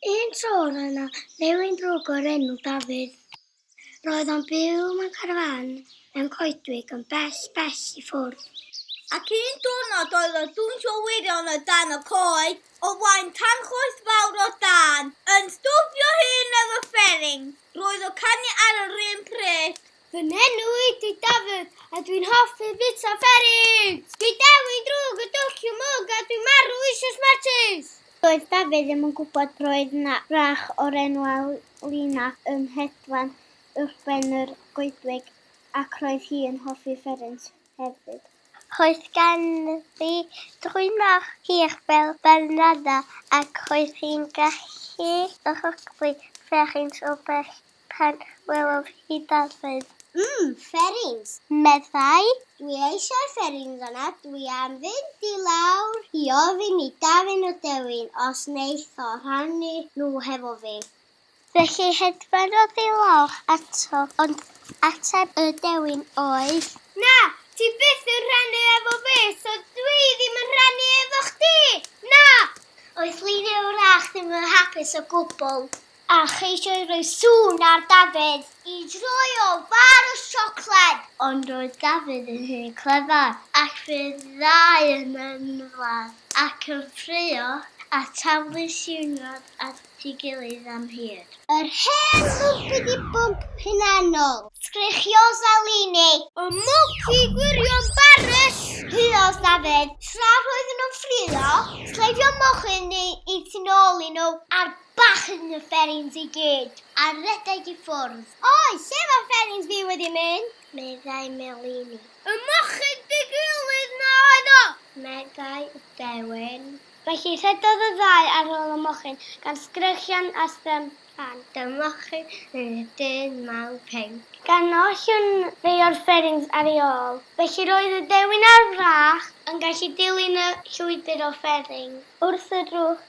Un tro roedd yna newyn drwg o'r enw Dafydd. Roedd o'n byw mewn carafán mewn coedwig yn bell, bell i ffwrdd. Ac un diwrnod oedd o'n dwnsio wirion o dan y coed, o flaen tanchoes fawr o dân, yn stwffio hyn ar y fferin. Roedd o'n canu ar yr un pryd. Fy nenw ydi Dafydd, a dwi'n hoffi bita fferins! Dwi dewin drwg y dwll i'w mwg a dwi'n marw eisoes Martys! Doedd Dafydd ddim yn gwybod roedd 'na wrach o'r enw Alina yn hedfan uwchben yr goedwig ac roedd hi yn hoffi fferins hefyd. Roedd ganddi drwynor hir fel balnada ac roedd hi'n gallu rhyglu fferins o bell. Pan welodd hi darlun. Mm! Fferins! meddai. Dwi eisiau fferins yna, dwi am fynd i lawr i ofyn i Dafydd a Dewin os wneith o rhannu nhw hefo fi. Felly hedfanodd i lawr ato, ond ateb y Dewin oedd. Na! Ti byth yn rhannu efo fi, so dwi ddim yn rhannu efo chdi! Na! Oedd Lina wrach ddim yn hapus o gwbl. A cheisiai roi sŵn ar Dafydd i droi o far o siocled. Ond roedd Dafydd yn hun clefar, ac fe ddau yn ymladd ac yn ffraeo, a taflu siwrnod at ei gilydd am hir. Yr hen lwybr i bwnc hunanol. Sgrechios Elini. Y mwc i gwirion Baris! Huos Dafydd, tra roedden nhw'n ffraeo, cleifion mochyn eu tu nôl i nhw, a'r Bach yn y fferins i gyd, a rhedeg i ffwrdd. Oi, lle mae fferins fi wedi mynd? meddai Melini. Y mochyn digywilydd 'na oedd o! meddai Dewen. Felly rhedodd y ddau ar ôl y mochyn, gan sgrechian a strymphan. Dy'r mochyn yn y dyn mawr pinc. Gan ollwng rhai o'r fferins ar ei ôl. Felly roedd y dewin ar frach yn gallu dilyn y llwybr o fferins. Wrth y drwch,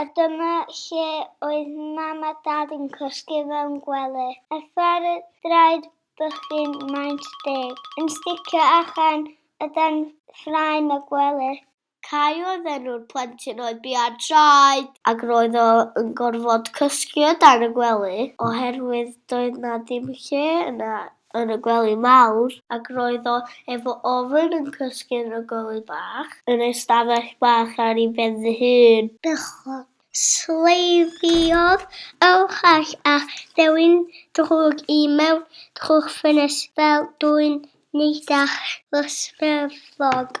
A dyma lle oedd mam a dad yn cysgu fewn gwely. A thraed draed bychin maint deg. Yn sticio allan o dan ffraem y gwely. Cai oedd enw'r plentyn oedd bia traed. Ac roedd o yn gorfod cysgu o dan y gwely. Oherwydd doedd 'na ddim lle yna. yn y gwely mawr. Ac roedd o efo ofn yn cysgu yn y gwely bach. Yn ei stafell bach ar ei ben-dy hun. Bechod. Sleifiodd Ewcharch a Thewyn drwg i mewn trw'r ffenest fel dwyn neidach lysfefog.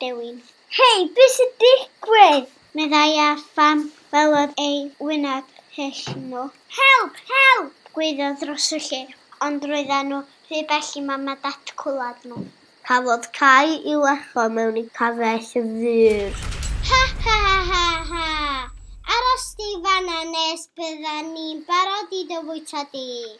dewin. Hei, beth sy'n digwydd? meddai a phan welodd ei wyneb hyll nhw. Help! Help! gwaeddodd dros y lle, ond roedden nhw rhy bell i mam a dad cwlad nhw. Cafodd Cai i lecho mewn i cafell ddŵr. Ha ha ha ha ha! Aros di fan'na nes byddan ni'n barod i dy fwyta di!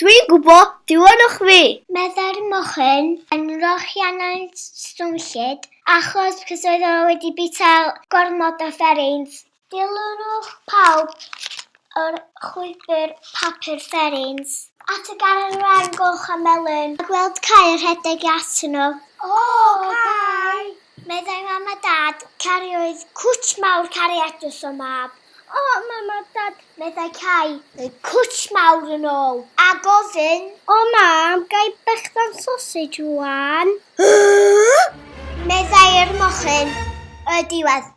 Dwi'n gwybod, diolch fi! Meddai'r mochyn yn rochiannau'n swnllyd, achos cys oedd o wedi bita gormod o fferins. Dilynwch pawb o'r chwibr papur fferins. At y garreg wen goch a melyn. A gweld cae yn rhedeg i atyn nhw. O, cae! Meddai mam a dad, cariwyd cwt mawr cariadus o mab. O, mam a dad, meddai Cai, rhoi cwtsh mawr yn ôl, a gofyn. O, mam, gai bechdan sosej rwan? meddai'r mochyn y diwedd.